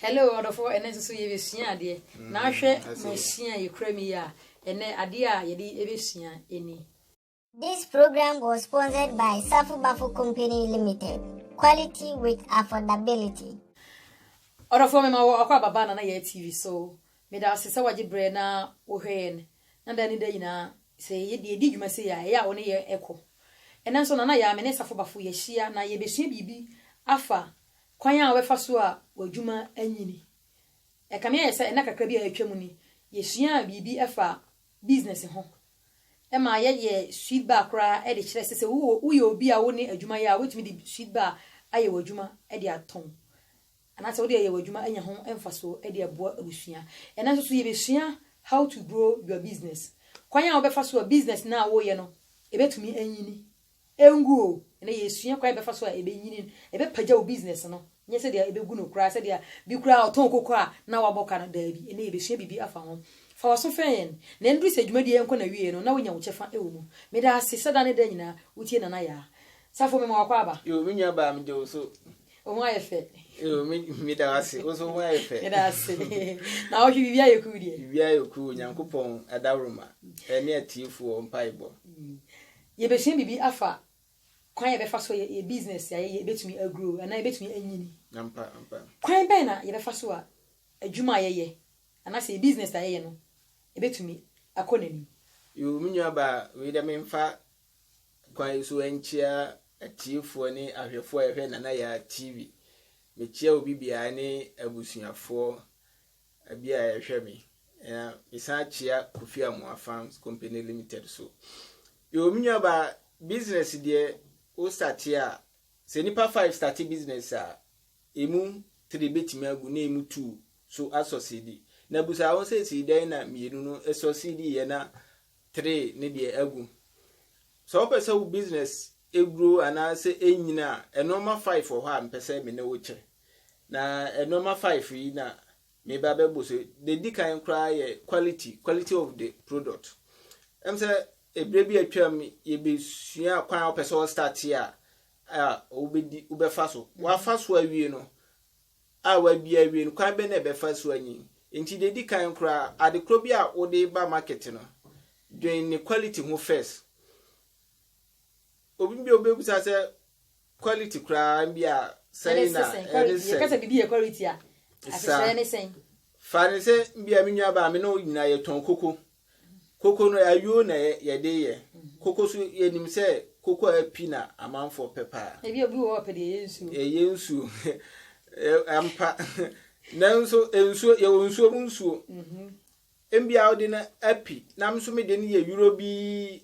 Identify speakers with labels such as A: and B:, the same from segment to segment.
A: Hello ɔdɔfo ɛnɛ nso so yɛbɛsua adeɛ mm, na ahwɛ masua yɛkura mi yɛ a ɛnɛ adeɛ a yɛde ɛbɛsua ɛni This
B: program was sponsored by Safu Bafu Company Limited. Quality with affordability.
A: Ɔdɔfoɔ mema wɔ ɔkɔ ababa na na yɛ TV so. Meda ase sɛ wagye berɛ na wohwɛ yɛn. Na da ne da nyinaa sɛ yɛde ɛdi dwuma sɛ yɛ a ɛyɛ a wo ne yɛ ɛkɔ. Ɛnɛ nso na na yɛ a me ne Safo Bafo yɛahyia na yɛbɛsua biribi afa Kwan a wobɛfa so a w'adwuma anyini. Ɛkame ayɛ sɛ nna kakra bi a atwam ni, yesuaa biribi fa business ho. Ɛma yɛyɛɛ sweet bar koraa de kyerɛɛ sɛ sɛ woyɛ obi a wo ne adwuma yɛ a, wobɛtumi de sweet bar ayɛ w'adwuma de atɔn. Anaasɛ wode ayɛ w'adwuma anya ho mfasoɔ de aboa abusua. Ɛnnɛ nso so yɛbɛsua how to grow your business. Kwan a wobɛfa so a business no a woreyɛ no ɛbɛtumi anyini Engu o, ɛnɛ yɛresua kwan a yɛbɛfa so a ɛbɛnyini, ɛbɛpagya wo business no, nyɛ sɛdeɛ ɛbɛgu no koraa, sɛdeɛ bi koraa ɔtɔn koko a na wabɔ ka no, daabi, ɛnɛ yɛbɛsua biribi afa ho. Fa w'aso fɛn yɛn, na ɛnduru sɛ dwumadie yi nkɔ n'awieɛ no na wonya wo kyɛfa wɔ mu. Meda ase sɛ da ne da nyinaa wotie Nana Yaa. Safo, mema w'akwaaba. Yoo, me nua baa, meda wo
C: so. Wo ho ayɛ fɛ.
A: Yoo, me, meda
C: wo ase. Wo nso wo ho ayɛ fɛ. Meda ase.
A: Na wohwe biribi ayɛ cool deɛ? Biribi ayɛ cool, Onyankopɔn
C: adaworoma ne atiefoɔ mpaebɔ.
A: Yebesua biribi afa kwan a yɛbɛfa so yɛ yɛn business a yɛyɛ betumi agrow anaa ebetumi anyini. Ampa, ampa.
C: Kwan bɛn na
A: yɛbɛfa so a adwuma a yɛyɛ anaasɛ yɛn business a yɛyɛ no ebetumi akɔ n'anim? Yoo, me
C: nuabaa, wei deɛ memfa kwan yi so nkyia atiefoɔ ne ahwɛfoɔ a yɛhwɛ Nana Yaa TV. Mekyia obi biara ne abusuafoɔ Bia a yɛhwɛ me na mesan kyea Kofi Amoah Farms Company Limited so. Yo, me nua ba, business deɛ wo starte a, sɛ nipa five starte business a, emu three betumi agu na emu two so asɔsidi. Na busa ho sɛ si dɛn na mmienu no ɛsɔsidi yɛ na three ne deɛ agu. Sɛ wopɛ sɛ wo business ɛgrow anaasɛ ɛnyina a, nnoɔma five wɔ hɔ a mpɛ sɛ me ne wo kyɛ. Na nnoɔma five yi na meba bɛbɔ so. Deɛ ɛdi kan koraa yɛ quality, quality of the product. Ɛm sɛ ɛberɛ bi atwam yɛbɛsua kwan a wopɛ sɛ wɔstate a a wobɛdi wobɛfa so. Mm-hmm. Wafa so awie no a wabia awie no kwan bɛ na ɛbɛfa so anyin. Nti deɛ ɛdi kan koraa adekorɔ bi a wode ba market no dwen ne quality ho first. Obi bi a wobɛbusa sɛ Quality koraa bi a sɛn na ɛne sɛn. Yɛka sɛ biribi yɛ
A: quality a, ahyehyɛeɛ ne sɛn? Fa no sɛ
C: bia me nuabaa me ne wo nyinaa yɛtɔn koko. Koko no ayuo na yɛde yɛ. Mhm. Koko so yɛnim sɛ koko a api na amanfoɔ pɛ paa. Ebi obi wɔ hɔ pɛ deɛ ɛyɛ
A: nsuo. Ɛyɛ nsuo.
C: Ampa. Nanso nsuo yɛwɔ nsuo mu nsuo. Mhm. Mbia wode no api na me nso mede no yɛ yuro bi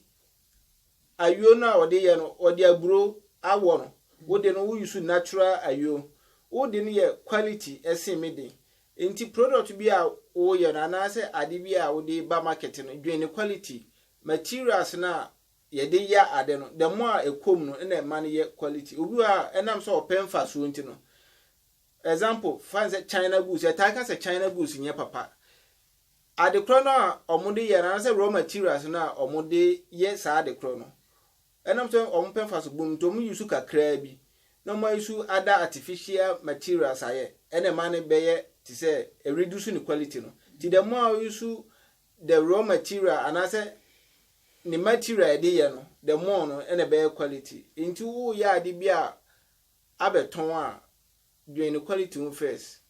C: Ayuo no a wɔde yɛ no wɔde aburo awɔ no wo de no wo use natural ayuo wo de no yɛ quality ɛsen me de nti product bi a wo yɛ no anaa sɛ ade bi a wo de ba market no dwen ne quality materials no a yɛde yɛ ade no the more a ɛkɔ mu no ɛna ɛma no yɛ quality obi wɔ ha a ɛnam sɛ ɔpɛ mfasoɔ nti no example fa ne sɛ China goods yɛtaa ka sɛ China goods nyɛ papa Adekorɔ no a wɔde yɛ no anaasɛ raw materials no a wɔde yɛ saa adekorɔ no, ɛnam sɛ wɔpɛ mfaso bom nti wɔyi so kakraa bi na wɔayi so ada artificial materials ayɛ ɛna ɛma no bɛyɛ te sɛ ɛ reduce ne quality no. Nti the more a woyi so the raw material anaasɛ ne material a yɛde yɛ no the more no ɛna ɛbɛyɛ quality. Nti woyɛ ade bi a abɛtɔn a, Dwen ne quality ho first.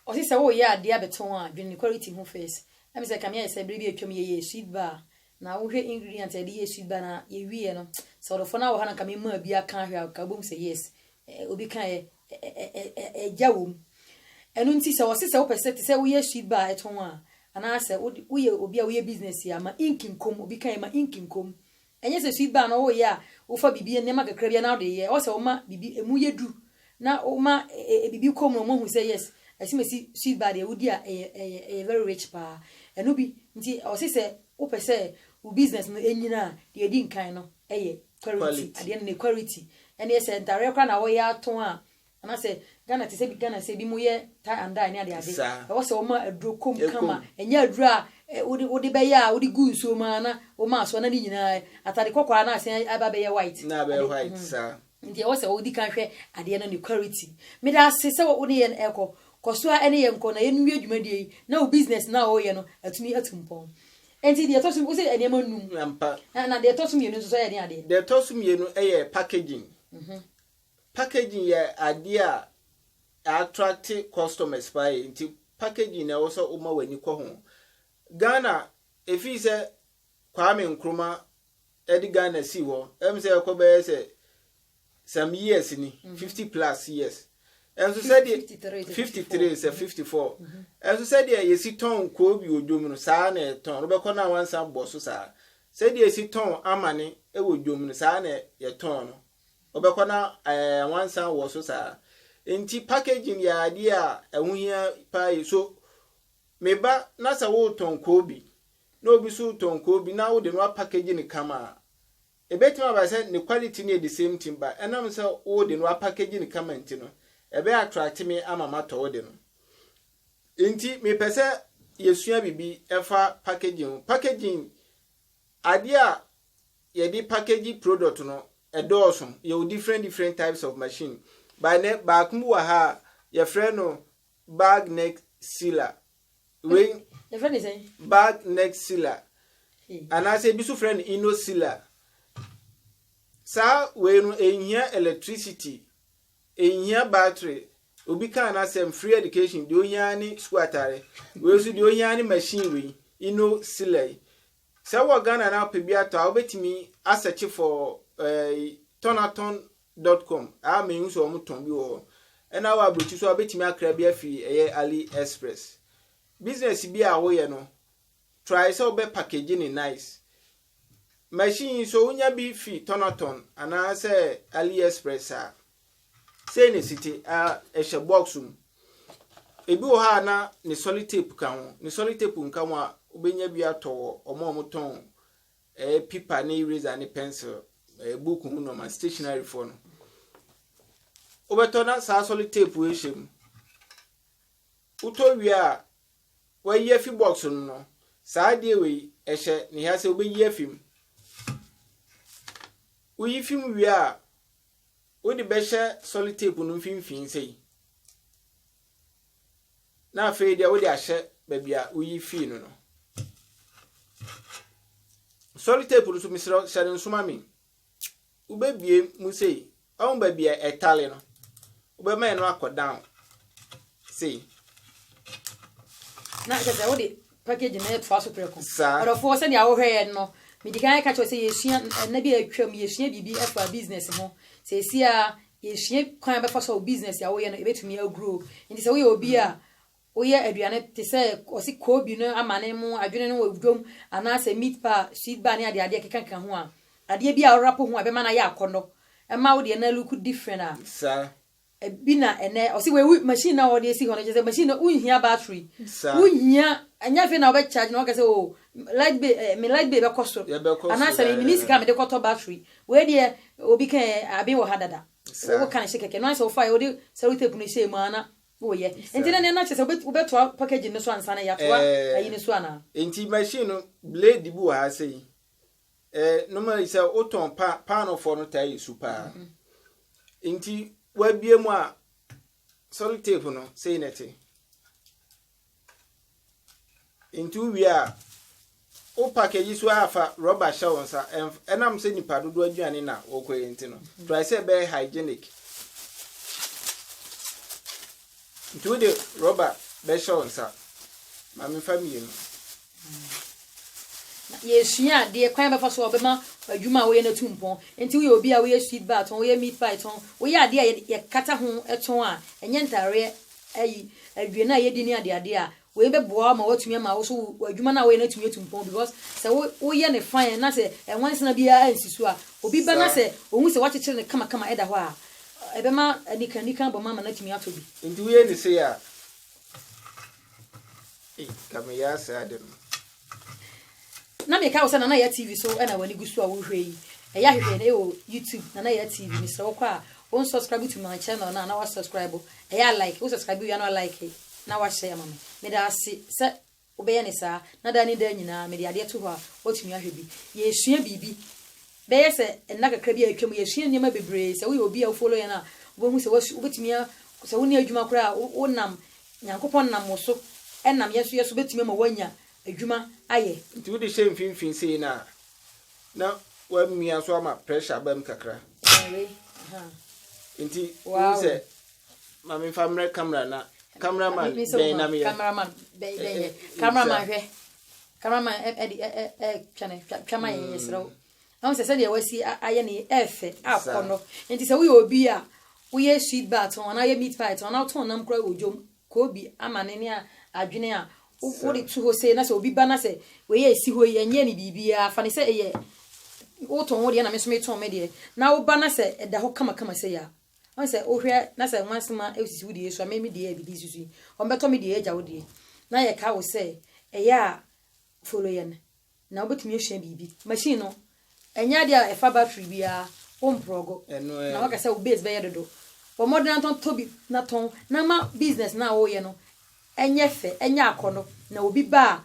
A: Ɔse sɛ wo yɛ adeɛ abɛtɔn a dwen ne quality ho first. Ɛm sɛ kame ayɛ sɛ bere bi atwam yɛ yɛɛ sweet bar na wo hwɛ ingredient a yɛde yɛɛ sweet bar na yɛ wie yɛ no sɛ ɔdɔfoɔ no ara wɔ ha na nka me maa bi aka ahwɛ a nka wobɛhu sɛ yes obi ka yɛ ɛgya wɔ mu. Ɛno nti sɛ ɔse sɛ wopɛ sɛ te sɛ wo yɛ sweet bar ɛtɔn a anaa sɛ wo yɛ obi a wo yɛ business a ma ink nkɔ mu obi ka yɛ ma ink nkɔ mu. Ɛnyɛ sɛ sui ba a na woyɛ a wofa biribi nneɛma kakra bi a na wode reyɛ. Ɛwɔ sɛ woma biribi emu yɛ duru na woma biribi kɔ mu na wɔahu sɛ yes, asimasi sui ba deɛ wodi a ɛyɛ ɛyɛ ɛyɛ very rich paa. Ɛno bi nti ɛwɔ se sɛ wopɛ sɛ wo business no nyina a, deɛ ɛdi nkan no yɛ quality. Adeɛ no ne quality. Ɛnneɛ sɛ ntareɛ koraa na woyɛ atɔn a, Ana sɛ Ghana te sɛ bi Ghana sɛ bi mo yɛ tie and dye ne ade ade ɛwɔ sɛ ɔma aduro kom kama ɛnyɛ aduro a wode wode bɛyɛ a wode gu nsuo mu a na woma aso ana ne nyinaa atade kɔkɔɔ a na asen aba bɛyɛ white na abɛyɛ white
C: saa
A: nti ɛwɔ sɛ wodi kan hwɛ adeɛ no ne quality meda ase sɛ
C: wo
A: ne yɛn ɛkɔ kɔ so a ɛne yɛn kɔ na yɛn nwie dwumadie yi na wo business na ɔyɛ no atumi atu mpɔn nti deɛ ɛtɔ so wo sɛ nneɛma nnum na deɛ ɛtɔ
C: so mmienu
A: nso so ɛyɛ ne adeɛ deɛ ɛtɔ so mmienu
C: ɛyɛ packaging mhm. Packaging yɛ adeɛ a attract customers paa yie nti packaging na ɛwɔ sɛ woma w'ani kɔ ho. Ghana, ɛfiri sɛ Kwame Nkrumah de Ghana sii hɔ, ɛm sɛ ɛkɔ bɛyɛ sɛ some years ni, mhm. fifty plus years. Ɛnso sɛdeɛ 53 sɛ 54. Mhm. Ɛnso sɛdeɛ yɛsi tɔn koobi wɔ dwom no saa na ɛtɔn. Wobɛkɔ no a wansa bɔ so saa. Sɛdeɛ yɛsi tɔn amane wɔ dwom no saa na yɛtɔn no. Wobɛkɔ na nwansa wɔ so saa. Nti packaging yɛ adeɛ a ɛho hia paa yi. So me ba na sɛ wotɔn koobi na obi so tɔn koobi na wode no apackage no kama a, ɛbɛtumi aba sɛ ne quality no yɛ the same thing ba ɛnam sɛ wode no apackage no kama nti no, ɛbɛyɛ attract me ama matɔ wode no. Nti mepɛ sɛ yɛsua biribi ɛfa packaging ho. Packaging Adeɛ a yɛde package product no ɛdɔɔso, yɛwɔ different different types of machine but ɛnnɛ baako bi wɔ ha a yɛfrɛ no bag neck sealer, wei Yɛfrɛ no sɛn?
A: bag neck sealer
C: anaasɛ ebi nso frɛ no inno sealer. Saa wei no ɛnhia electricity Enhia battery. Obi kaa n'asɛm free education deɛ ohia ara ne sukuu atare. Wei nso deɛ ohia ara ne machine wei yi no sila yi. Sɛ wɔ Ghana na wopɛ bi atɔ a wobɛtumi asɛkye for eh, tɔnatɔn dot com a mehu sɛ wɔn tɔn bi wɔ hɔ. Ɛna wɔ aburokyi so a wobɛtumi akra bi afiri ɛyɛ Ali Express. Business bi a woyɛ no Try sɛ wobɛ package no nice. Machine yi so wonya bi fi tɔnɔtɔn anaa sɛ AliExpress saa. Sei ne site a ɛhyɛ box mu. Ebi wɔ hɔ a na ne sɔli tape ka ho. Ne sɔli tape nka ho a wobɛnya bi atɔ wɔ ɔmo a ɔmo tɔn ɛɛ pipa ne eraser ne pencil ɛɛ book ho nɔma stationary foɔ no. Wobɛtɔ na saa sɔli tape wei hyɛ mu. Wotɔ wie a wɔayi afi box no mu no, saa adeɛ wei ɛhyɛ ne ha sɛ wobɛyi afi mu. Woyi fi mu wie a, wode bɛhyɛ solid tape no mfimfini sei. Na afei deɛ wode ahyɛ baabi a woyi fii no no. Solid tape no so mesrɛ hyɛ no nsoma me. wobɛbie mu sei ɔhu baabi a ɛtale no wobɛma ɛno akɔ down sei
A: na kyɛ sɛ wode package na ɛtoa so prɛko ɔdɔfoɔ sɛdeɛ wohwɛɛ no medi kan ka kyerɛ sɛ yɛsua ɛna bi a atwam yɛsua biribi ɛfa business ho sɛ ɛsi a yɛsua kwan bɛfa so a business a woyɛ no ɛbɛtumi aguro nti sɛ woyɛ obi a Woyɛ aduane te sɛ ɔse koobi no amane mu adwene no wɔ dwom anaasɛ meat pie a sweet bar ne adeade ɛkekakeka ho a, adeɛ bi a wo rapo ho a ɛbɛma no ayɛ akɔnnɔ ɛma wo deɛ na look different a,
C: ɛbi na
A: ɛnɛ ɔse wei wo machine no a wɔde asi hɔ no kyerɛ sɛ machine no wonhia battery, wonhia ɛnyɛ afei na wobɛcharge na woaka sɛ oh light bill eh me light bill bɛkɔ soro anaasɛ me menni sika a mede kɔtɔ battery, wei deɛ obi kaeɛ aben wɔ ha dada, woka no hyɛ kɛkɛ, ɛno ara ne sɛ wofaeɛ wode sellotape no hyɛɛ mu a na Oh yɛ. Nti na nea na kyesɛ wobɛ wobɛtoa packaging no so ansa na yɛatoa ayi no so anaa? Eh, nti machine no
C: blade bi wɔ ha sei. Eh, normally sɛ wotɔn pa paanofo no taa yɛ su paa. Mm -hmm. Nti wabie mu a solid tape no sei na ɛte. Nti wo wie a wo package so a fa rubber hyɛ wo nsa ɛnam sɛ nipa dodoɔ aduane na wɔkɔ yɛ nti no try sɛ ɛbɛyɛ hygienic nti wode rubber bɛhyɛ wo nsa ma mefa mmienu Na
A: yɛresua adeɛ, kwan a bɛfa so a wɔbɛma adwuma a woyɛ no atu mpɔn. Nti woyɛ obi a woyɛ sweet bar tɔn, woyɛ meat pie tɔn, woyɛ adeɛ a yɛkata ho tɔn a, ɛnyɛ ntaareɛ, ayi, aduane a yɛdi ne adeadeɛ a, wei bɛboa ma woatumi ama wo so w'adwuma no a woyɛ no atumi atu mpɔn because sɛ wo woyɛ ne fine na sɛ ɛnwansena biara ansi so a, obi ba na sɛ ɔhu sɛ woakyekyere no kamakama ɛda hɔ a, ɛbɛma anikanika abɔ ma ama no atumi atɔ bi. Nti woyɛ ne sei
C: a,
A: na meka wo sɛ nana yɛ tv so ɛna w'ani gu so a wohwɛ yi ɛyɛ ahwehwɛ no ɛwɔ youtube nana yɛ tv mesrɛ wokɔ a wɔn subscribe to my channel na na wa subscribe ɛyɛ a like wo subscribe wia na wa like na wahyɛ ama me meda ase sɛ Wobɛyɛ no saa, na daa ne daa nyinaa mede adeɛ to hɔ a woatumi ahwɛ bi. Yɛresua biribi. Bɛyɛ sɛ nna kakra bi a atwam, yɛasua nneɛma bebree. Sɛ woyɛ obi a wo follow yɛn a, wobɛhu sɛ woasu, wobɛtumi a, sɛ wonni adwuma koraa a, wonam, Nyankopɔn nam wo so, ɛnam yɛn nso yɛ so bɛtumi ama woanya adwuma ayɛ. Nti wode hyɛ mfimfini
C: sei no a, na woamia so ama pressure abam kakra. Ɛɛn wei, ahaa. Nti, wohu sɛ. Wow. Maame nfa mmerɛ camera na cameraman bɛn na meyɛ. Cameraman bɛn bɛn yɛ.
A: Cameraman hwɛ. Cameraman ɛdi ɛ ɛ ɛ twɛnɛ twɛma yɛ yɛ srɛw. Ɛho sɛ sɛdeɛ wasi ayɛ ne ɛfɛ akɔ no. Nti sɛ woyɛ obi a woyɛ sweet bar tɔn anaa woyɛ meat pie tɔn anaa wotɔn nam kura wɔ dwom koobi ama ne ne a adwene a wode to hɔ sei na sɛ obi ba na sɛ wei a ɛsi hɔ yi ɛnyɛ ne biribiara fa ne sɛ ɛyɛ wotɔn wo deɛ na me nso metɔn me deɛ na woba na sɛ ɛda hɔ kamakama sei a Ɔn sɛ wo hwɛ na sɛ nwansema sisi wo deɛ so a me me deɛ yɛ bibi susu yi ɔn bɛtɔ me deɛ yɛ gya wo deɛ na yɛ ka wo sɛ ɛyɛ a follow yɛn na wo bɛtumi asua biribi machine no ɛnyɛ adeɛ a ɛfa battery biara wo mprɔgo na waka sɛ wo base bɛyɛ dodo bɔ mmɔden na tɔn tɔ bi na tɔn na ama business no a wo yɛ no ɛnyɛ fɛ ɛnyɛ akɔnɔ na obi ba a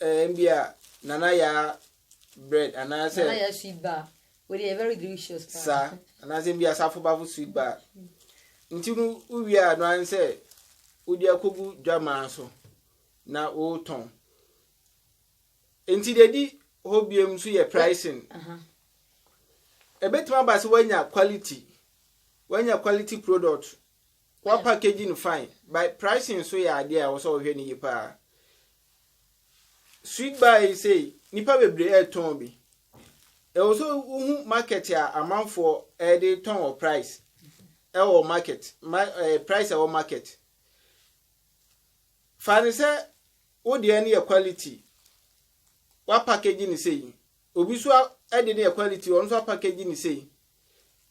C: Eh, mbia nana ya bread anaasɛ. Nana ya sweet bar.
A: Wei deɛ very delicious paa. Saa anaasɛ mbia
C: asafo bafo sweet bar. Nti no wowie a no ara sɛ wode akɔgu dwamaa so na wotɔn. Nti deɛ di hɔ biom nso yɛ pricing. Ɛbɛtumi aba sɛ woanya quality, woanya quality product. Wa package no fine but pricing nso yɛ adeɛ a ɛwɔ sɛ wɔhwɛ no yie paa. Sweet bar yi sei nnipa bebree ɛretɔn bi. Ɛwɔ sɛ wohu market a amanfoɔ ɛde tɔn wɔ price ɛwɔ market ma ɛɛ eh, price ɛwɔ market. Fa ne sɛ wo deɛ no yɛ quality wa package no sei Obi so de ne yɛ quality ɔno nso apackage ne sei.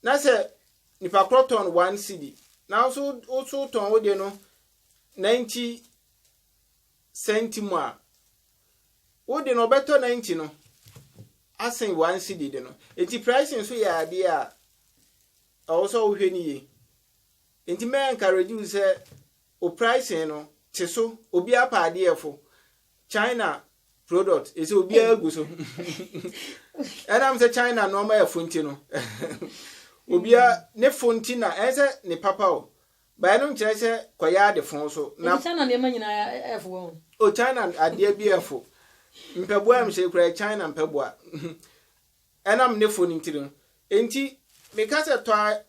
C: Na sɛ nipa korɔ tɔn one cedi na nso woso tɔn wo deɛ no 90 cent mu a wo de no ɔbɛtɔ 90 no asen one cedi de no. Enti pricing nso yɛ adeɛ a ɛwɔ sɛ wohwɛ ne yie. Enti mɛ encourage wo sɛ o pricing no te so obi apa adeɛ fo. china product ɛsɛ obiara gu so ɛnam sɛ china nneɛma yɛ fo nti no obia ne fo nti na ɛsɛ ne papa o bae no nkyerɛ sɛ kɔyɛ ade fo so na china nneɛma
A: nyinaa ɛfo wɔn o china
C: adeɛ bi ɛfo mpɛboa ɛm sɛ kura china mpɛboa ɛnam ne fo no nti no nti meka sɛ tɔ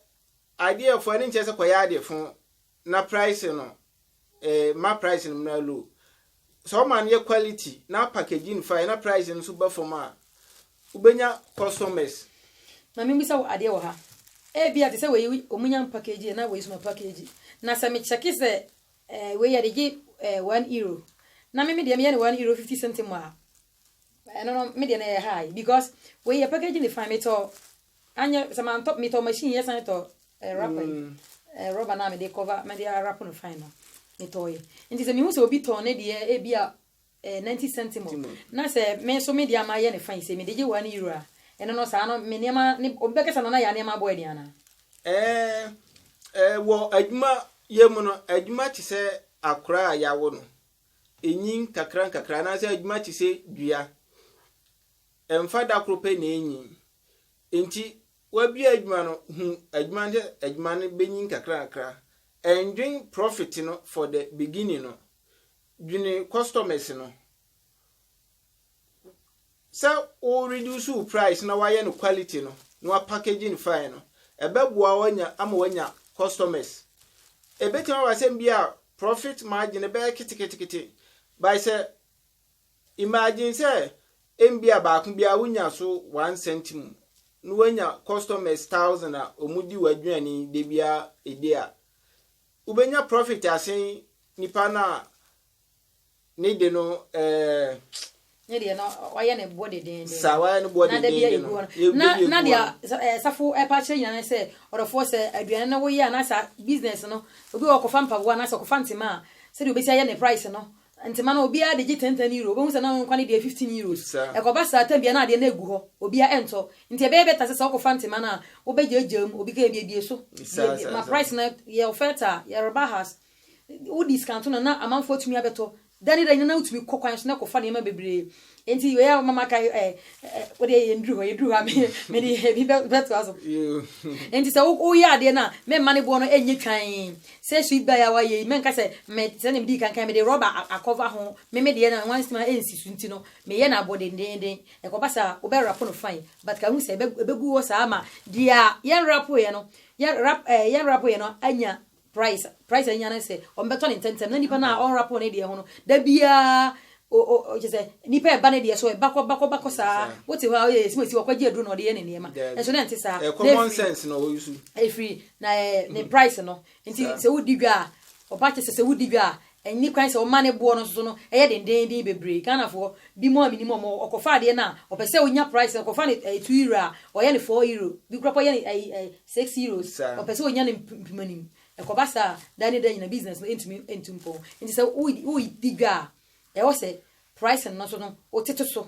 C: adeɛ fo ɛne nkyerɛ sɛ kɔyɛ ade fo na price no eh, ma price no mmra low. Sɛ ɔma no yɛ quality na package no fine na price no nso ba fam a, wobɛnya customers. Na membisa
A: wo adeɛ wɔ ha. Ebia te sɛ wei wɔn nya mpakeegyi yɛ na wei nso ma pakeegyi. Na sɛ mekyɛke sɛ eh, wei yɛde gye eh, one euro na me me deɛ meyɛ no one euro fifty something mu a, ɛno no me deɛ na ɛyɛ high because wei yɛ pakeegyi ne fine metɔ Anyɛ sɛ mantɔ me tɔ machine yɛ san tɔ eh, rapper yi eh, rubber na mede cover mede arap no fine no me tɔ yɛ nti sɛ mehu sɛ obi tɔ ne deɛ ebi a eh, 90 centimo na sɛ me so me deɛ ama yɛ ne fine sɛ mede gye wa ne euro a ɛno no saa no me nneɛma ne obi bɛkasa no na yɛ nneɛma abɔ ɛdeɛ anaa Eh, eh,
C: wɔ adwuma yɛ mu no adwuma te sɛ akora a yɛawo no ɛnyin kakra nkakra anaasɛ adwuma te sɛ dua Ɛmfa da koro pɛ na enyin. Enti wabue adwuma no, hu adwuma no sɛ adwuma no benyin kakrakra. Ɛndwen profit no for the beginning no. Dwene customers no. Sɛ wo reduce wo price na wayɛ no quality no, na wa package no fine no, ɛbɛboa wo anya ama wanya customers. Ebetumi aba sɛ bi a profit margin no bɛyɛ keteketekete, but sɛ Imagine sɛ mbia baako bi a wo nya so one cent mu na w'anya customers thousand a ɔmo di w'aduane da biara ɛdi a, wo bɛnya profit asen nipa no a ne de no ɛɛ.
A: ne deɛ no ɔyɛ ne boɔ dedeenden saa wayɛ ne boɔ
C: dedeenden no na deɛ na
A: deɛ eh, safo ɛpa eh, akyerɛ nyina ne sɛ ɔdɔfoɔ sɛ aduane no woyɛ anaasɛ business no obi wɔ ɔkɔfa mpaboa anaasɛ ɔkɔfa ntema a sɛdeɛ obɛsi ayɛ ne price no Ntema no, obiara de gye ten ten euro. Wobɛhu sɛ na wɔn nkwa no deɛ yɛ fifteen euros. Ɛkɔba saa tam biara na adeɛ no agu hɔ, obiara ɛntɔ. Nti ɛbɛyɛ better sɛ sɛ wokɔfa ntema no a, wobɛgyaagyaa mu, obi ka abiebie so, biebie, ma price no yɛ oferta, yɛ rebahas. Wodiscounto no a, na amanfoɔ atumi abɛtɔ. Da ne da nyinaa na wotumi kɔ kwan so na kɔfa nneɛma bebree. Nti wei a woma maka eh, eh, eh, wode yɛ yɛnduru hɔ yɛduru hɔ a mede ebi bɛtoa so nti sɛ woyɛ adeɛ no a memma ne boɔ no ɛnyɛ twan sɛ sweet by a wayɛ yi mɛnka sɛ sɛdeɛ medii kankan mede rɔba akɔva ho meme deɛ no one sima ɛnsi so nti no meyɛ no abɔ dendenden ɛkɔba saa wobɛrapo no fine but kahu sɛ ɛbɛgu hɔ saa ma deɛ a yɛnrapoeɛ no yɛnrapoeɛ no anya Price price anya no sɛ ɔmbɛtɔ ne ntɛntɛm na nipa no a ɔnrapo ne deɛ ho no da biara o o kyɛ sɛ nipa ɛba ne deɛ so ɛba kɔ ba kɔ ba kɔ saa wote hɔ a ɔyɛ esimesi wakɔgye aduro na ɔde yɛ ne nneɛma nso na ɛnte saa na efiri
C: efiri na ɛɛ
A: ne price no nti sɛ wodi dwa a ɔba kyɛ sɛ sɛ wodi dwa a Ɛnni kwan sɛ wɔma ne boɔ no nso no yɛ dendeenden bebree. Ghanafoɔ bi mo a menim wɔn no, ɔkɔfa adeɛ no a, ɔpɛ sɛ ɔnya price no, ɔkɔfa no ɛyɛ two euro a, ɔyɛ no four euro. Bi koraa mpo ɔyɛ no ɛyi ɛyi six euros. Saa. Ɔpɛ sɛ ɔnya no mp mpomanim. Ɛkɔba saa a, da ne da nyinaa business no ntumi ntu mpɔn. Nti sɛ woredi dwa a, ɛwɔ sɛ pricing no nso no, wotete so.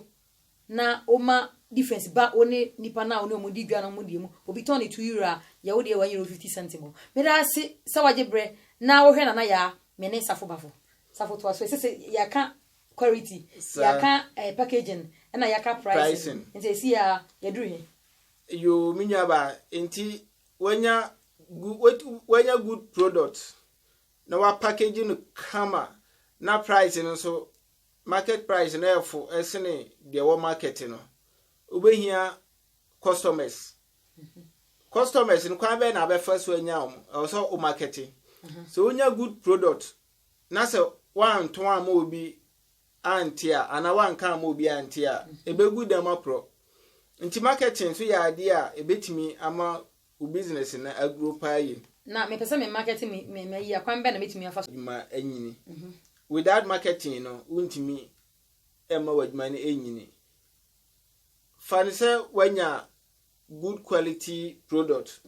A: na ɔma difference ba wo ne nipa no a wo ne wɔn di dwa no mo deɛ mu. Obi tɔn ne two euro a, yɛ wo deɛ wanyɛ wo fifty cent mɔ. Meda ase sɛ wagye berɛ na wohwɛ Nana Yaa, me ne Safo Bafo. Safo toa so, ɛsɛ sɛ yɛaka quarity, yɛaka eh, packaging ɛna yɛaka pricing, nti ɛsi a yɛduru he? Yoo me
C: nuabaa nti wanya good wanya good product na wa package no kama na price no nso market price no ɛfo sene deɛ ɛwɔ market no wobɛhia customers customers no kwan bɛyɛ na abɛfa so anya wɔn ɛwɔ sɛ wo markete sɛ wonya good product na sɛ woanto ama obi ante a anaa woanka ama obi ante a ɛbɛgu dɛm aporɔ nti marketing nso yɛ adeɛ a ɛbɛtumi ama Wo business no agrow paa yie. Na mepɛ sɛ me
A: market me me mayi a, kwan bɛn na mɛtumi afa so. Adwuma anyini.
C: Without marketing no, wontumi mma w'adwuma no nyini. Fa no sɛ woanya good quality product,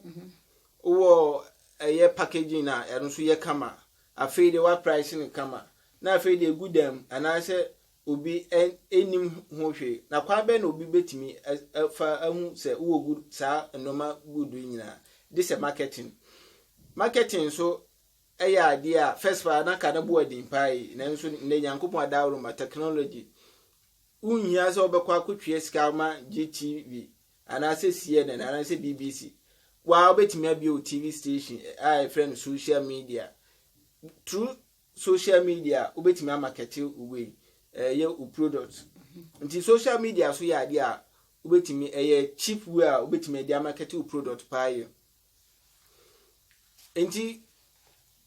C: wowɔ ɛyɛ packaging a ɛno nso yɛ kama, afei deɛ woaprice no kama, na afei deɛ ɛgu dan mu anaasɛ obi nnim ho hwee. Na kwan bɛn na obi betumi afa ahu sɛ wowɔ good saa nneɛma good yi nyinaa? This is marketing. Marketing nso ɛyɛ adeɛ a first paa na ka na bu adin paa yi nanso nnɛ Nyankopɔn adaworo ma technology wonhia sɛ wobɛkɔ akɔtwea sika ma GTV anaasɛ CNN anaasɛ BBC waa wobɛtumi abie wo TV station a ɛfrɛ no social media through Social media wobɛtumi amakɛte wo wei ɛyɛ wo product nti social media so yɛ adeɛ a wobɛtumi ɛyɛ cheap way a wobɛtumi ɛde amakɛte wo product paa yɛ nti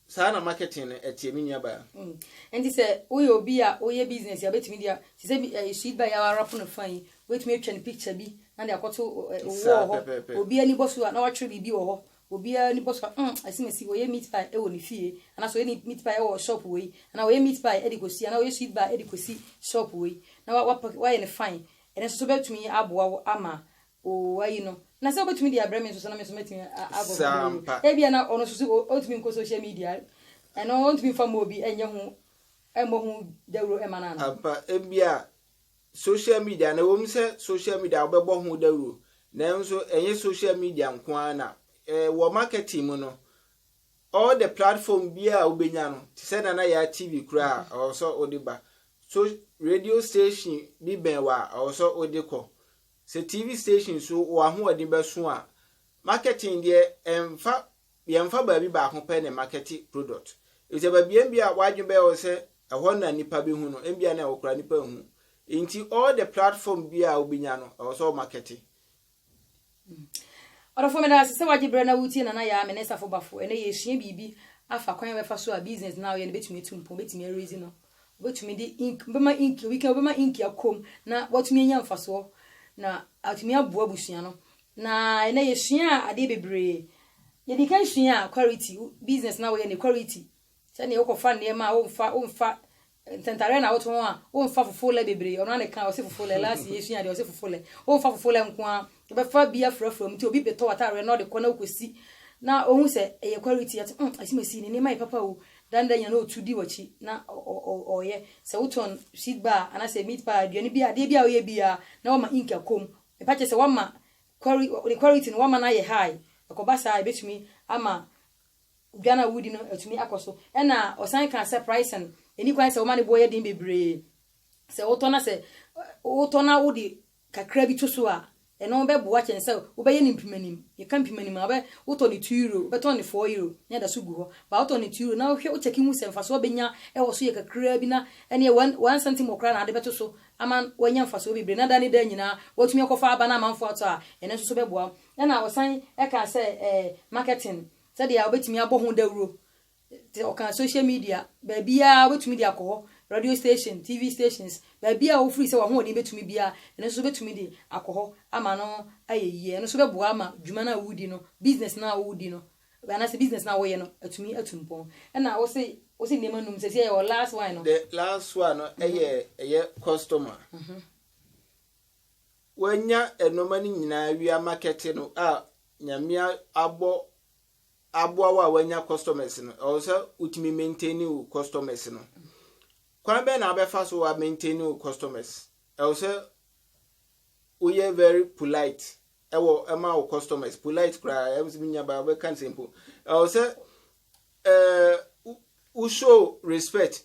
C: saa na marketing no ɛteɛ me nua baa. Mm. Nti sɛ
A: woyɛ obi a woyɛ business a wobɛtumi de a te sɛ bi ɛyɛ sweet bar yɛ awarapo no fa yi wobɛtumi atwa ne picture bi na de akɔto wɔ hɔ obi ani bɔ so a na wakyerɛ biribi wɔ hɔ Obiara ani bɔ so a, mm, asimasi, ɔyɛ meat pie wɔ ne fie, anaasɛ ɔyɛ ne meat pie wɔ shop wei, anaa ɔyɛ meat pie de kɔsi, anaa ɔyɛ sweet bar de kɔsi shop wei, na wa, wapake, wayɛ no fine. Ɛno nso so bɛtumi aboa wo ama wo, woayi no. Na sɛ wobɛtumi de abrɛ me nso so, na me nso mɛtumi a, a, abɔ Saa mmɔden. ampa. Ebia na ɔno nso so, o, ɔntumi nkɔ social media, ɛno ɔntumi mfa mmɔ obi nyɛ ho, mmɔ ho dawuro mma no anaa? Ampa, ebia
C: Social media no, ɛwom sɛ social media wobɛbɔ ho dawuro, nanso ɛnyɛ social media nko ara na eh, wɔ marketing mu no, all the platform biara a wobɛnya no, te sɛ Nana Yaa TV koraa a, ɛwɔ sɛ wode ba. So radio station bi bɛn wɔ a, ɛwɔ sɛ wode kɔ. Sɛ TV station so wɔ ahoɔden bɛso a, marketing deɛ ɛmfa yɛmfa baabi baako pɛ na ɛmakɛte product. Efisɛ baabiara bi a w'adwene bɛyɛ wo sɛ ɛhɔ na nnipa behu no, ebia na ɛwɔ koraa nnipa nhu. Enti all the platform bi a wobenya no, ɛwɔ sɛ ɔmakɛte.
A: Ɔdɔfo meda wo ase sɛ wagye berɛ na woretie Nana Yaa, me ne Safo Bafo. Ɛnnɛ yɛresua biribi afa kwan a yɛbɛfa so a business no a woyɛ no bɛtumi atu mpɔn, wobɛtumi araise no. Wobɛtumi de ink, wobɛma ink, obi ka wobɛma ink akɔ mu na watumi anya mfasoɔ na atumi aboa abusua no. Na ɛnɛ yɛsua adeɛ bebree. Yɛdi kan sua a quality, business na woyɛ ne quality. Sɛdeɛ wokɔfa nneɛma a womfa, womfa ntɛntareɛ na wotɔn a womfa fofo lɛ bebree. Ɔno ara na ɛka ɔse fofo lɛ, last year yɛsua adeɛ ɔse fofo lɛ. Womfa fofo lɛ nko ara Wobɛfa bi afurafura mu nti obi betɔ w'ataareɛ na ɔde kɔ na wokɔsi na ɔhu sɛ ɛyɛ quality a, ɔte mm Asima Sii ne nneɛma yɛ papa o, da no da nyina na ɔtu di w'akyi na ɔyɛ, sɛ wotɔn sweet bar a anaasɛ meat pie a, aduane bi a, adeɛ bi a woyɛ bi a na wama ink akɔ mu, mepa kyɛ sɛ woama ne quality no woama no ayɛ high, ɛkɔba saa a ɛbɛtumi ama aduane a wodi no atumi akɔ so. Ɛna ɔsan kaa sɛ pricing, ɛnni kwan sɛ woma ne boɔ yɛ den bebree, sɛ wotɔ na sɛ wotɔ na wode kakra bi to so a, ɛno bɛboa kyɛn sɛ wobɛyɛ no mpemanim. Yɛka mpemanim a, wobɛ, wotɔ no two euro, wobɛtɔn no four euro na ɛda so gu hɔ. But wotɔ no two euro na wohwɛ, wo check hu sɛ mfaso a wobɛnya wɔ so yɛ kakraa bi na ɛneɛ one, one centimɔ koraa na ade bɛto so ama woanya mfasoɔ bebree na da ne da nyinaa woatumi akɔfa aba na amanfoɔ atɔ a, ɛno nso so bɛboa wo. Ɛna ɔsan kaa sɛ ɛɛ, marketing, sɛdeɛ wobɛtumi abɔ ho dawuro te ɔka social media baabiara wobɛtumi de akɔ hɔ radio station tv stations baabiara a wofiri sɛ wahoɔden bɛtumi biara ɛno nso wobɛtumi de akɔ hɔ ama no ayɛ yie ɛno nso bɛboa ama dwuma no a wodi no business no a wodi no anaasɛ business no a woyɛ no atumi atu mpɔn ɛna wo se wo se nneɛma num sɛ sɛ yɛwɔ last one no the last one no mhm.
C: ɛyɛ ɛyɛ customer mhm. wanya nneɛma no nyinaa wia market no a nyame abɔ aboa wo a wanya customers no ɛwɔ sɛ wotumi maintain wo customers no kwan bɛn na abɛfa so wa maintain wo customers ɛwɔ sɛ woyɛ very polite ɛwɔ ɛma wo customers polite koraa ɛwɔ sɛ nya ba wobɛka nsɛmpo ɛwɔ sɛ ɛɛ wo show respect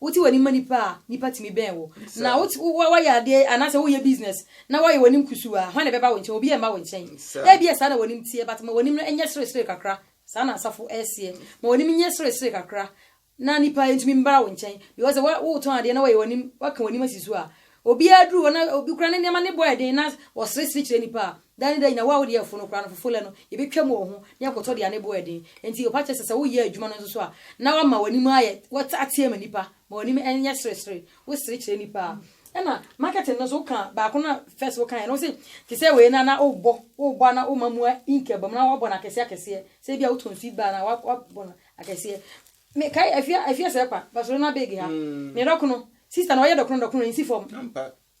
A: Wote w'ani ma nnipa a, nnipa tumi bɛn wo. Na woyɛ adeɛ anaasɛ woyɛ business na woayɛ w'anim kusuu a, hwan na ɛbɛba wo nkyɛn? Obiara remma wo nkyɛn. Ebia saa na w'anim teɛ, but ma w'anim no nyɛ seresere kakra. Saa na asafo reseɛ. Ma w'anim nyɛ seresere kakra na nnipa ntumi mmra wo nkyɛn. Because sɛ woretɔn adeɛ na woayɛ w'anim, woaka w'anim asi so a, Obiara duru hɔ na obi kura ne nneɛma ne bɔ ɛden na ɔseresere kyerɛ nnipa a, da ne da nyina wo a wode ɛfo no kora no fofole no, yɛbɛtwa mu wɔ ho na yɛakɔtɔ deɛ ne bo ɛden. Enti ɔpa kyɛ sɛ sɛ woyɛ adwuma no nso so a, na woama w'anim ayɛ, woateɛ ma nnipa ma w'anim nyɛ seresere, wo sere kyerɛ nnipa a. Ɛna marketing no nso woka baako no a first wo kaeɛ no, wo se te sɛ wei no a na wobɔ, wobɔ a na woma mua ink ba mu na woabɔ no akɛseɛ akɛseɛ, sɛ ebia wotɔn seed bar no a woabɔ no akɛseɛ. Me kae afie afie sɛɛ kwa Barcelona big ha ne dɔ kono sister no ɔyɛ dɔ kono dɔ kono nsi fɔm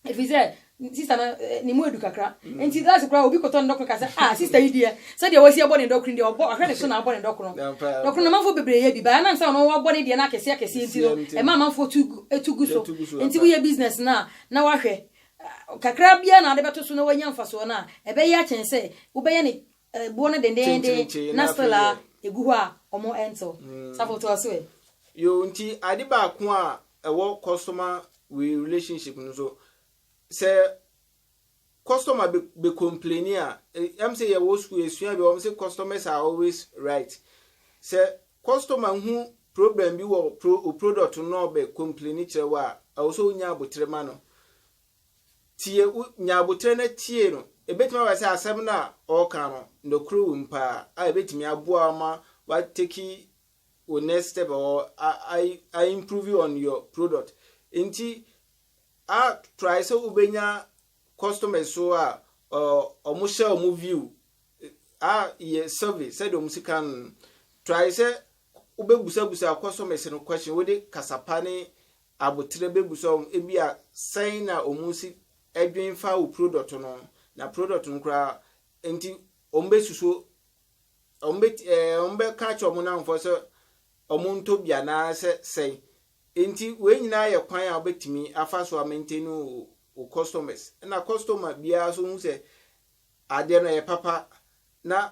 A: ɛfiri sɛ sister no eh, ne mu edu kakra nti last koraa obi kɔtɔ ne dɔ kono ka sɛ ah sister yi deɛ sɛdeɛ wasi abɔ ne dɔ kono deɛ ɔbɔ ɔhwɛ ne so na abɔ ne dɔ kono dɔ kono na amanfoɔ bebree yɛ bi baa na nsa ɔno wabɔ ne deɛ no akɛseɛ akɛseɛ nti no ɛma amanfoɔ tu gu etu gu so nti woyɛ business no a na wahwɛ kakra biara na ade bɛto so na wanya mfasoɔ no a ɛbɛyɛ akyɛn sɛ wobɛyɛ ne Ɛboɔ no dendeenden na still a ɛgu hɔ a ɔmo ɛntew. Safo toa so ɛ. Yoo nti
C: ade baako a ɛwɔ customer wei relationship no nso sɛ customer be be complaini a ɛm sɛ yɛwɔ school yɛsua bi a wɔn sɛ customers are always right sɛ customer hu problem bi wɔ pro o product no na ɔbɛ complaini kyerɛ wo a ɛwɔ sɛ onya abotere ma no Tie, wo, nya abotire na tie no. Ebetumi aba sɛ asɛm no a ɔreka no, nokorɛ wom paa, a ebetumi aboa wo ama wa take wo next step or a, a, a improve on your product. Nti, a try sɛ wobɛnya customers so a, ɔ, wɔn hyɛ wɔn view, a yɛ survey sɛdeɛ wɔn sika no. Try sɛ wobɛbusabusa customers no question, wode kasa pa ne Aboterɛ bɛbusua wɔn ebia sɛn na wɔn si dwen fa wo product no na product no koraa nti wɔn bɛsusuo wɔn bɛ ɛɛ wɔn bɛka akyerɛ wɔn nanfoɔ sɛ wɔn ntɔ bi anaasɛ sɛn nti wei nyinaa yɛ kwan a wɔbɛtumi afa so a maintain wo wo customers na customer biara so hu sɛ adeɛ no yɛ papa na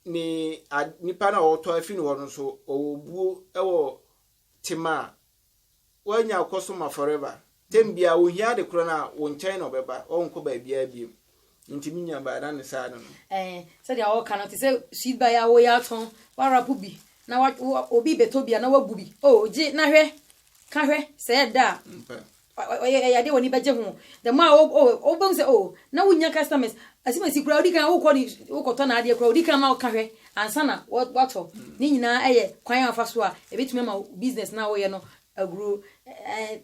C: ne nipa no a wɔtɔ afi ne hɔ no so ɔwɔ buo wɔ tema a, woanya ɔkɔ so ma forever. Tɛm biara wohia ade korɔ no a, wo nkyɛn na ɔbɛba, ɔrenkɔ baabiara biom. Nti me nua baa na ne saa no no. Ɛɛ, sɛdeɛ wɔka
A: no, te sɛ sweet bar yi a woyɛ atɔn, woarapo bi na wa, wo, obi rebɛtɔ bi a na woagu bi. Oh, gye na hwɛ, ka hwɛ, sɛ ɛda a. Ampa. Ɔyɛ ɔyɛ ade a w'ani bɛgye ho. The more a o o wobɛhu sɛ o na wonnya customers. Asimasi koraa wodi kan wokɔ ne wokɔtɔ n'adeɛ koraa wodi kan ma ɔka hwɛ ansa na watɔ. Ne nyinaa yɛ kwan a wɔfa so a ɛbɛtumi ama wo business no a woyɛ no aguro.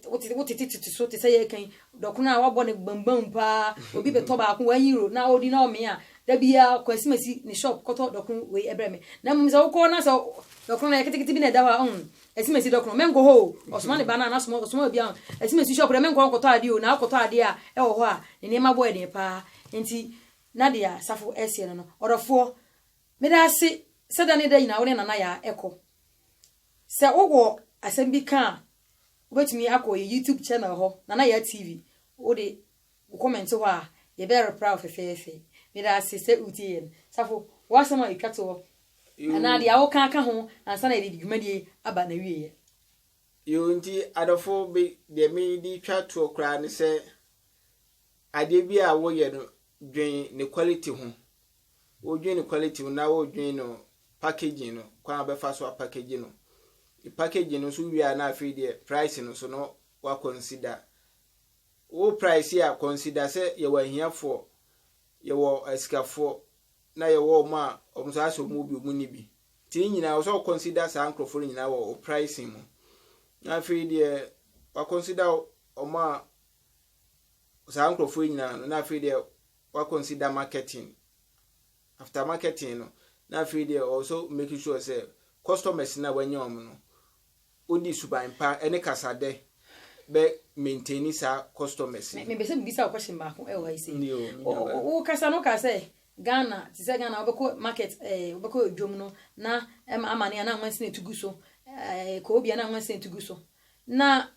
A: Wote wotete tete so te sɛ yɛreka yi dɔkono a wabɔ no bambam paa obi bɛtɔ baako one euro na ɔdi na ɔmee a da biara kɔ Asimasi ne shop kɔtɔ dɔkono wei brɛ me. Na mmom sɛ wokɔ na sɛ dɔkono no ɛyɛ ketekete bi na ɛda hɔ a ɔn Ɛsi mesi dɔkono menkɔ hɔ o ɔsoma ne ba no a n'asoma ɔsoma obi a ɛsi mesi shop dɛ menkɔ nkɔtɔ adeɛ o na akɔtɔ adeɛ a ɛwɔ hɔ a ne nneɛma bɔ ɛden paa nti na deɛ asafo ɛseɛ no no ɔdɔfoɔ meda ase sɛ da ne da nyinaa wo ne nana yaa ɛkɔ sɛ wowɔ asɛm bi ka a wobɛtumi akɔ yɛ youtube channel hɔ nana yaa tv wode Wo comment hɔ a, yɛbɛ reply wo fɛfɛɛfɛ. Medase sɛ wotie yɛn. Safo, w'asɛm a etwa toɔ anaa deɛ woka aka ho ansa na yɛde dwumadie yi aba n'awieɛ. Yoo
C: nti adɔfo me deɛ me de twa toɔ koraa ne sɛ adeɛ bi a woyɛ no dwen ne quality ho. Wodwen ne quality ho na wodwen no packaging no kwan a wobɛfa so apackage no. Packaging no nso wie a na afei deɛ price no nso no wa consider Wo praise a consider sɛ yɛwɔ ahiafoɔ, yɛwɔ asikafoɔ na yɛwɔ wɔn a wɔn nso ayɛ sɛ wɔn wɔ bi wɔn nni bi. Nti ne nyinaa ɛwɔ sɛ wo consider saa nkorɔfoɔ no nyinaa wɔ wo pricing mu. Na afei deɛ wa consider wɔn a saa nkorɔfoɔ yi nyinaa no na afei deɛ wa consider marketing. after marketing no na afei deɛ ɔwɔ so make sure sɛ customers no a wanya wɔn no wode suban pa ne kasadɛ bɛ maintain saa customers no. Mepɛ sɛ mebisa wo question
A: baako wɔ ha yi sei. Ndio, me nua baa. Wo kasa no wokaa sɛ Ghana te sɛ Ghana wobɛkɔ market eh, wobɛkɔ dwom no na ɛma amane a na nwansene tu gu so eh, kɔ obi a na nwansene tu gu so. Na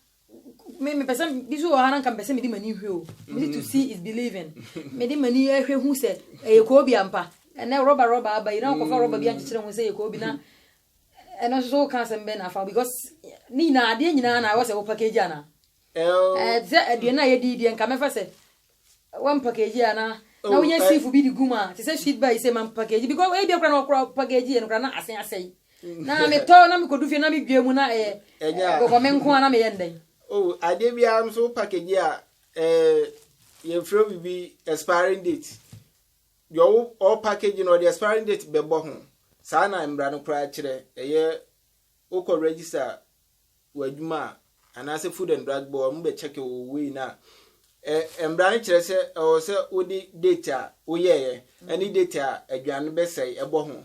A: me me pɛsɛ bi so wɔ ha na nka mpɛsɛ mede m'ani hwɛ o me to see is believing mede m'ani hwɛ hu sɛ ɛyɛ kɔɔ bi ampa ɛnɛ rɔba rɔba aba yi na ɔkɔfa rɔba bi ankyekyere ho sɛ yɛ kɔɔ bi na ɛno nso so woka asɛm bɛn na afa because ne nyinaa adeɛ nyinaa na ɛwɔ sɛ wo package ana ɛɛ sɛ aduane a yɛdi deɛ nka mɛfa sɛ wɔn package a na oh, na woyɛ eh. sifu bi de gu mu a te sɛ sweet bar sɛ ma package because ebi akora na ɔkora package yɛ no kora na asen asɛe mm. na metɔ na mekɔdu fie na medwa mu na ɛyɛ eh, eh, kɔkɔme nko a na meyɛ ndɛn o oh, adeɛ biara
C: nso package a ɛɛ yɛmfrɛ biribi expiring date deɛ ɔwo ɔwɔ package no ɔde expiring date bɛbɔ ho saa na mmara no koraa kyerɛ ɛyɛ Wokɔ register w'adwuma a anaasɛ Food and Drug Board wɔn bɛ check wo wei no a, ɛ mmara no kyerɛ sɛ ɛwɔ sɛ wode date a woyɛeɛ ɛne date a aduane no bɛsɛe ɛbɔ ho.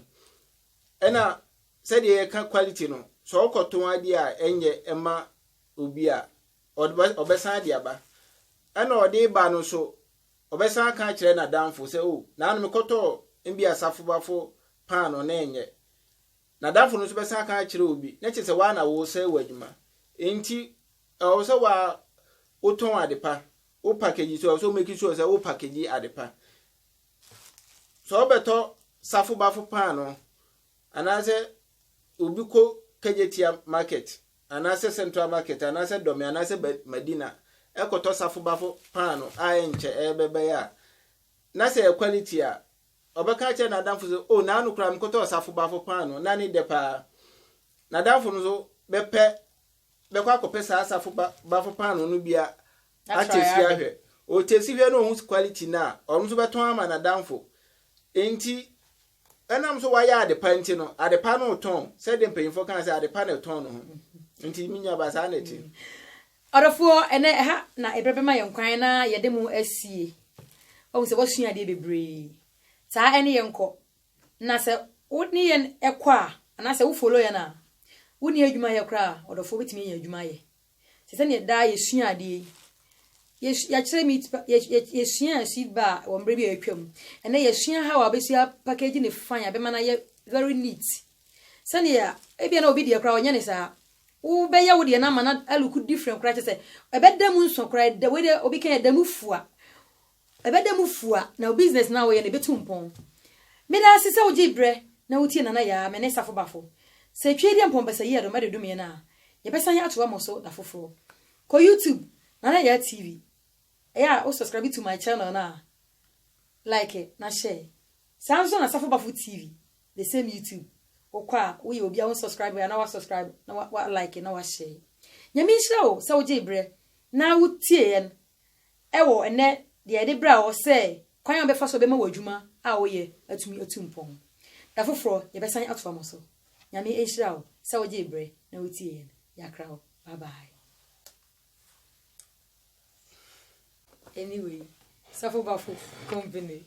C: Ɛna sɛdeɛ yɛka quality no, sɛ ɔkɔtɔn adeɛ a ɛnyɛ ɛma obi a ɔde ɔbɛsan de aba. Ɛna ɔde ba no nso ɔbɛsan aka akyerɛ n'adamfo sɛ o oh, naano mekɔtɔɔ mbi asafobafo paano na ɛnyɛ N'adamfo no nso bɛsan aka akyerɛ obi, na kyerɛ sɛ woa na woresɛe w'adwuma. Enti ɛwɔ sɛ woa wotɔn ade pa, wo package nso ɛwɔ sɛ wo make sure sɛ wo package ade pa. Sɛ wobɛtɔ safo bafo paanoo anaasɛ obi kɔ Kejetia market anaasɛ Central market anaasɛ Dome anaasɛ Madina ɛkɔtɔ safo bafo paanoo a ɛnkyɛ ɛbɛbɛyɛ a, na sɛ ɛyɛ quality a Ɔbɛka akyerɛ n'adamfo sɛ, O, naano koraa mekɔtɔɔ ɔsafo baafo paanoo, na ne dɛ paa. N'adamfo no nso bɛpɛ, bɛkɔ akɔpɛ saa asafo ba, baafo paanoo no bi a, atɛsi ahwɛ. Ɔtɛsi hwɛ na ɔhu quality no a, ɔno nso bɛtɔn ama n'adamfo. Enti, ɛnam sɛ wayɛ ade pa nti no, ade pa no retɔn, sɛdeɛ mpanyimfoɔ kaa sɛ, ade pa na ɛtɔn ne ho. Nti, me nuabaa, saa na ɛte. Ɔdɔfoɔ,
A: ɛnnɛ ɛha na ɛberɛ bɛma yɛn kwan na yɛde mo asie. Woahu sɛ woasua adeɛ bebree. Saa ɛne yɛn nkɔ. Na sɛ wo ne yɛn kɔ a, anaasɛ wo follow yɛn a, wonni adwuma yɛ koraa a, ɔdɔfoɔ wobɛtumi anya adwuma ayɛ. Te sɛ neɛ daa yɛsua adeɛ yi. Yɛsu, yɛakyerɛ meat pa, yɛ, yɛ, yɛsuaa seed bar wɔ mmerɛ bi a atwam. Ɛnnɛ yɛsua how a wobɛsi apackage ne fine a ɛbɛma no ayɛ very neat. Sɛnea ebia na obi deɛ koraa ɔnyɛ ne saa. Wobɛyɛ wo deɛ no ama no alook different koraa kyɛ sɛ ɛbɛda mu nsɔ koraa ɛda wei deɛ obi ka ɛda mu fua. Ɛbɛda mu fua na business no a woyɛ no ɛbɛtu mpɔn. Meda ase sɛ wogyee berɛ na wotie Nana Yaa, me ne Safo Bafo. Sɛ Twi deɛ mpɔmpɛsɛyi a dɔmɛde dome yɛn a, yɛbɛsan atoa mo so da foforɔ. Kɔ YouTube, Nana Yaa TV. Ɛyɛ a wo subscribe to my channel no a, like na share. Saa nso na Safo Bafo TV, The same YouTube wokɔ a woyɛ obi a wo nsubscribe a na wa subscribe na wa wa like na wa share. Nyame nhyira wo sɛ wogyee berɛ na wotie yɛn ɛwɔ ɛnɛ deɛ yɛde brɛ wɔ sɛ kwan a wobɛfa so bɛma w'adwuma a woyɛ atumi atu mpɔn. Da foforɔ yɛbɛsan atoa mo so. Nyame nhyira wo sɛ wogyee berɛ na wotie yɛn. Yɛakra wo. Bye bye. Anyway, Safo Bafo company.